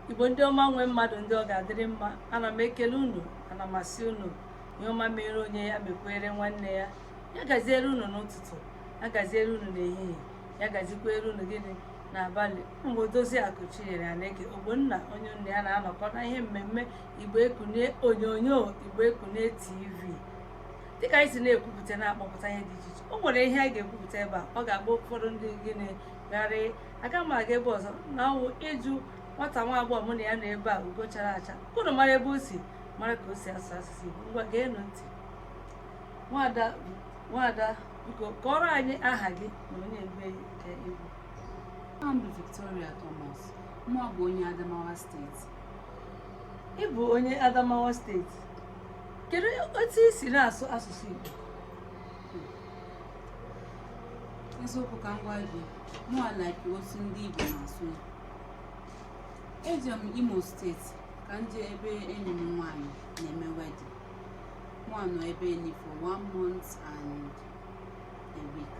igbo ndị ọma nwe mmadụ ndị ọ ga-adịrị mma ana m ekele unu ana m asị unu ihe ọma mere onye ya mekwere nwanne ya ya gaziere unu n'ụtụtụ ya gaziere unu n'ehihie ya gazikwere unu gịnị n'abalị m bụ odoziakụ chinyere aneke ogbonna onye unu na ya na-anọkọ na ihe mmemme igbo ekunie onyonyo igbo ekunie tv dịka anyị si na-ekwupụta na-akpọpụta ihe dị iche iche o nwere ihe anyị ga-ekwupụta ebe a ọ ga-agba ụfọdụ ndị gịnị gharịị aga m aga ebe ọzọ na ọwụ ịjụ nwata nwa agbọghọ mụ na ya nọ ebe a ugo chara acha ka unu mara ebe o si mara ka o si asụ asụsụ igbo ngwa geenụ ntị nwada nwada biko kọrọ anyị aha gị na onye ebee ka ị bụ Aha m bụ Victoria Thomas, mụ bụ onye Adamawa steeti. ị bụ onye adamawa steeti kedu otu i si na-asụ asụsụ igbo eziokwu ka m gwa gị mụa like otu ndị Igbo na-asụ eje m Imo steeti ka m jee ebe enyi m nwaanyị na-eme wedding mụa nọ ebe enyi for one month and a week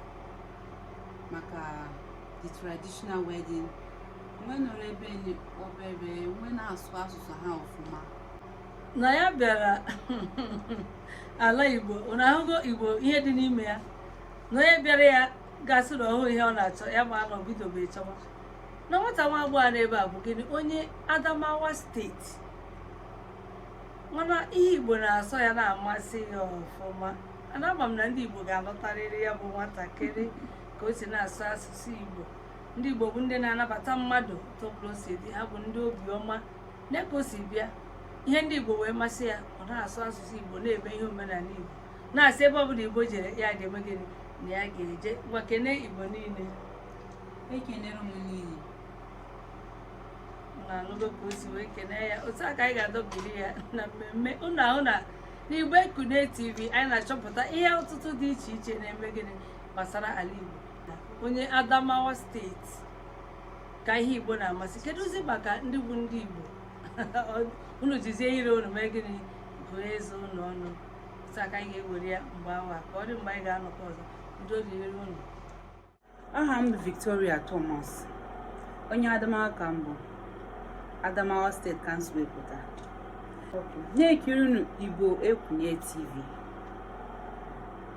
maka the traditional wedding m wee nọrọ ebe enyi obere m wee na-asụ asụsụ ha ọfụma na ya bịara ala igbo unu ahụgo igbo ihe dị n'ime ya na onye bịara ya ga-asị na ọ hụụ ihe ọ na-achọ ya ma na o bidobe chọwa na nwata nwa agbọghọ a nọ ebe a bụ gịnị onye adamawa steeti mana ihe igbo na-asọ ya na-amasị ya ọfụma ana ama m na ndị igbo ga-alụtarịrị ya bụ nwatakịrị ka o si na-asụ asụsụ igbo ndị igbo bụ ndị na-anabata mmadụ otu ọbụla o si dị ha bụ ndị obiọma nee ka o si bịa ihe ndị igbo wee masị ya ọ na-asụ asụsụ igbo na-eme ihe omenala igbo na-asị ebe ọbụla igbo jere ya ga-eme gịnị na ya ga-eje ngwa kene igbo niile ekenere m niile unu anụgo ka o si wee kene ya otu a ka anyị ga-adọbiri ya na mmemme unu ahụna n'igbo ekunie tv anyị na-achọpụta ihe ọtụtụ dị iche iche na-eme gịnị gbasara ala igbo onye adamawa steeti ka ihe igbo na-amasị kedụzi maka ndị bụ ndị igbo unu jizie ire unu mee gịnị gụọ eze unu ọnụ otu a ka anyị ga-ewere ya mgbe awa ka ọ dị mgbe anyị ga-anọkọ ọzọ ndeewo dịrị unu aha m bụ victoria thomas onye adamawa ka m bụ adamawa steeti ka m si wee pụta na-ekirinụ igbo ekunie tv